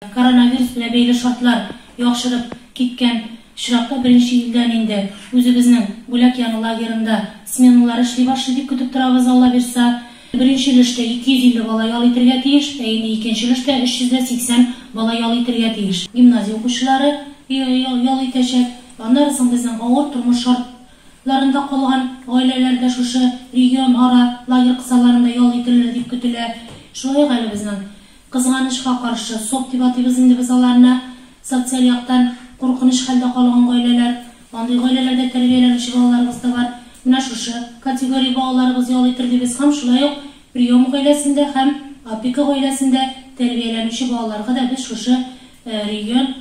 Коронавирус белән бәйле шартлар яхшырып киткән очракта беренче илдән инде үзебезнең Бүләк яны лагерында сменалар эшли башлый дип көтеп торабыз, Аллабирса. Беренче өлештә 250 бала ял итергә тиеш, ә инде икенче өлештә 380 бала ял итергә тиеш. Гимназия укучылары ял итәчәк. Аннары соң безнең авыр тормыш шартларында калган гаиләләр дә шушы регионара лагерь кысаларында ял ителер дип көтелә. Шулай ук әле безнең Кызганычка каршы, сок дип атыйбыз инде без аларны, социаль яктан куркыныч хәлдә калган гаиләләр, андый гаиләләрдә тәрбияләнүче балаларыбыз да бар. Менә шушы категория балаларыбыз ял итер дибез һәм шулай ук прием гаиләсендә һәм опека гаиләсендә тәрбияләнүче балаларга да без шушы регион,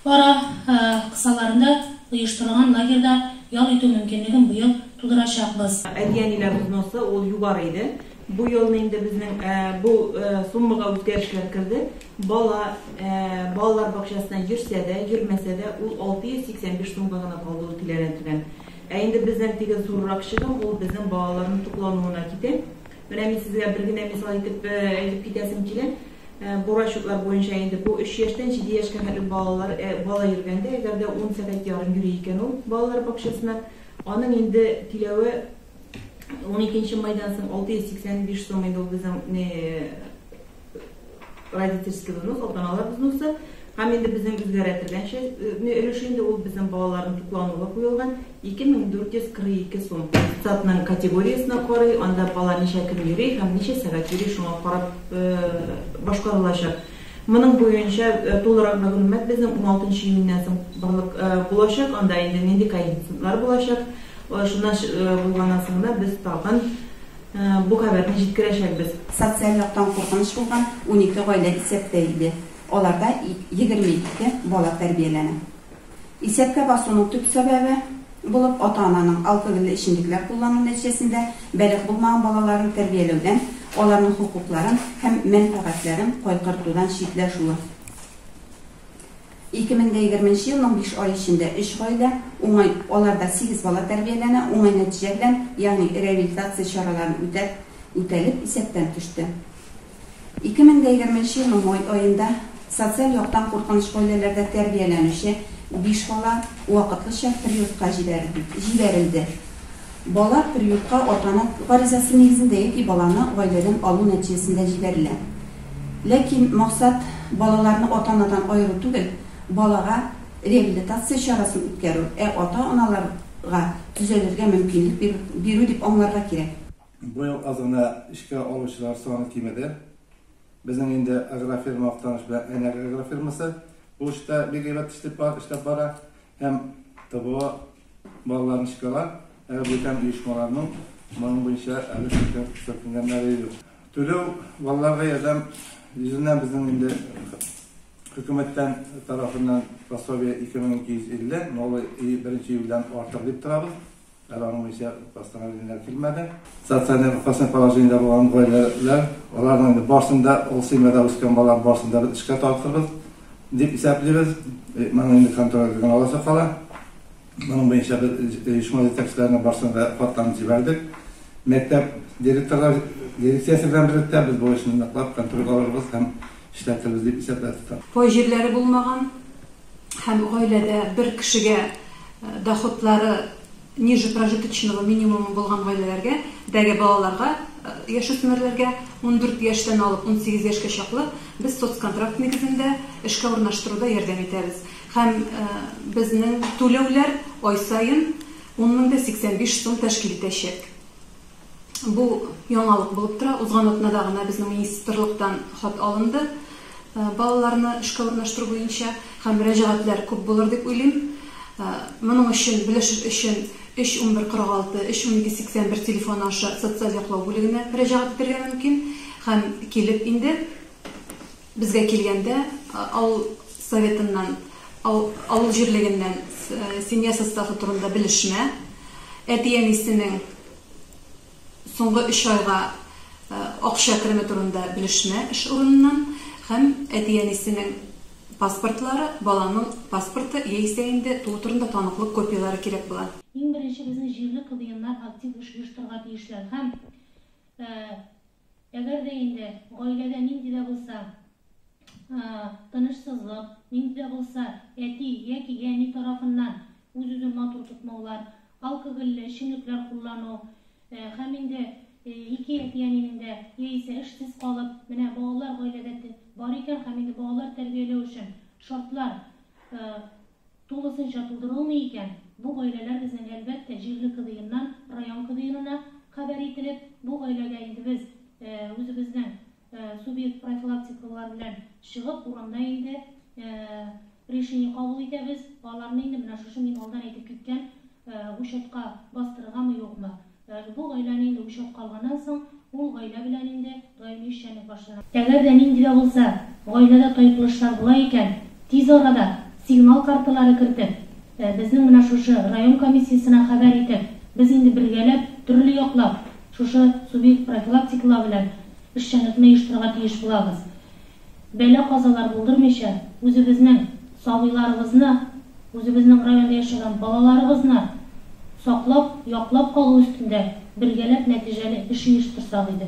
Кара кысаларында оештырылган лагерьда ял итү мөмкинлеген быел тудырачакбыз. Әти-әниләр взносы ул югары иде. Бу елны инде безнең бу суммага үзгәрешләр керде. Бала балалар бакчасына йөрсә дә, йөрмәсә дә, ул 685 сумга гына калды ул түләнә-түлән. Ә инде безнең теге зуррак чыгым, ул безнең балаларның туклануына китә. Менә мин сезгә бер генә мисал итеп әйтеп китәсем килә. Бу расчетлар буенча инде бу өч яшьтән җиде яшькә хәтле балалар, бала йөргәндә, әгәр дә ун сәгать ярым йөри икән ул балалар бакчасына, аның инде түләве уникенче майдан соң 685 сум инде ул безнең Родительский взнос, ата-аналар взносы һәм инде безнең үзгәрә торган чәкне өлеше инде ул безнең балаларның туклануга куелган 2442 сум. Статның категориясенә карый, анда бала ничә көн йөри һәм ничә сәгать йөри, шуңа карап башкарылачак. Моның буенча тулырак мәгълүмат безнең 16 июньнән соң барлык булачак, анда инде нинди коэффициентлар булачак. Шуннан булганнан соң гына без тагын Бу хәбәрне җиткерәчәкбез. Социаль яктан куркыныч булган унике гаилә исәптә иде. Аларда егерме ике бала тәрбияләнә. Исәпкә басуның төп сәбәбе булып ата-ананың алкогольле эчемлекләр куллану нәтиҗәсендә бәлигъ булмаган балаларын тәрбияләүдән, аларның хокукларын һәм мәнфәгатьләрен кайгыртудан читләшүе. 2020 елның биш ае эчендә өч гаилә, уңай, аларда сигез бала тәрбияләнә, уңай нәтиҗә белән, ягъни реабилитация чараларын үтәп, үтәлеп, исәптән төште. 2020 елның май аенда социаль яктан куркыныч гаиләләрдә тәрбияләнүче биш бала вакытлыча приютка җибәрелде. Бала приютка атаның гаризасы нигезендә яки баланы гаиләдән алу нәтиҗәсендә җибәрелә. Ләкин максат балаларны ата-анадан аеру түгел, балага реабилитация чарасын үткәрү, ә ата-аналарга төзәлергә мөмкинлек бирү дип аңларга кирәк. Быел аз гына эшкә алучылар саны кимеде. Безнең инде агрофирма Актаныш белән Әйнәк агрофирмасы бу эштә бик әйбәт эшләп бара һәм ТВО Балаларны чыгара, әле бүтән оешмаларның моның буенча әле шикәр сөртенгәннәре юк. Түләү балаларга ярдәм йөзеннән безнең инде хөкүмәттән тарафыннан пособие 2250, новый и беренче июльдән артыр дип торабыз. Әле аның буенча постановлениеләр килмәде. Социаль опасный положениедә булган гаиләләр, аларның инде барсын да ул семьяда үскән балалар барсын да без эшкә тартырбыз. Дип исәплибез. Моның инде контрольдә генә аласы кала. Моның буенча без оешма җитәкчеләренә барсын да хатларын җибәрдек. Мәктәп директорлар дирекциясе белән берлектә без бу эшне ныклап контрольгә алырбыз һәм эшләтербез дип исәпләде татар. Пай җирләре булмаган һәм гаиләдә бер кешегә доходлары ниже прожиточного минимумы булган гаиләләргә дәге балаларга, яшүсмерләргә, ундүрт яшьтән алып унсигез яшькә чаклы, без соцконтракт нигезендә эшкә урнаштыруда ярдәм итәбез һәм безнең түләүләр ай саен ун мең дә сиксән биш сум тәшкил итәчәк. Бу яңалык булып тора. Узган атнада гына безнең министрлыктан хат алынды балаларны эшкә урнаштыру буенча һәм мөрәҗәгатьләр күп булыр дип уйлыйм. Моның өчен белешер өчен 3 11 46 3 12 81 телефоны аша социаль яклау бүлегенә мөрәҗәгать итәргә мөмкин һәм килеп инде Безгә килгәндә, авыл Советыннан, авыл җирлегеннән семья составы турында белешмә, әти-әнисенең соңгы өч айга акча кереме турында белешмә эш урыныннан һәм әти-әнисенең паспортлары, баланың паспорты яисә инде туу турында таныклык копияләре кирәк була. Иң беренче безнең җирле КВНнар актив эш оештырырга тиешләр һәм. Әгәр дә инде гаиләдә нинди дә булса тынычсызлык, нинди дә булса әти яки әни тарафыннан үз-үзен матур тотмаулар, алкогольле эчемлекләр куллану һәм инде ике әти-әнинең дә яисә эшсез калып, менә балалар гаиләдә бар икән һәм инде балалар тәрбияләү өчен шартлар Тулысынча тудырылмый икән, бу гаиләләр безнең, әлбәттә, җирле КДИннан район КДИнына хәбәр ителеп, бу гаиләгә инде без үзебезнең субъект профилактикалар белән чыгып, урамда инде решение кабул итәбез, аларны инде менә шушы мин алдан әйтеп киткән учетка бастырыргамы-юкмы, Даже бу гаиләне инде үлчәп калганнан соң, ул гаилә белән инде даими эшчәнлек башлана. Әгәр дә нинди дә булса гаиләдә тайпылышлар була икән, тиз арада сигнал карталары кертеп, безнең менә шушы район комиссиясенә хәбәр итеп, без инде бергәләп, төрле яклап шушы субъект профилактикалау белән эшчәнлекне оештырырга тиеш булабыз. Бәла-казалар булдырмыйча, үзебезнең сабыйларыбызны, үзебезнең районда яшәгән балаларыбызны саклап, яклап калу өстендә бергәләп нәтиҗәле эш оештырсак иде.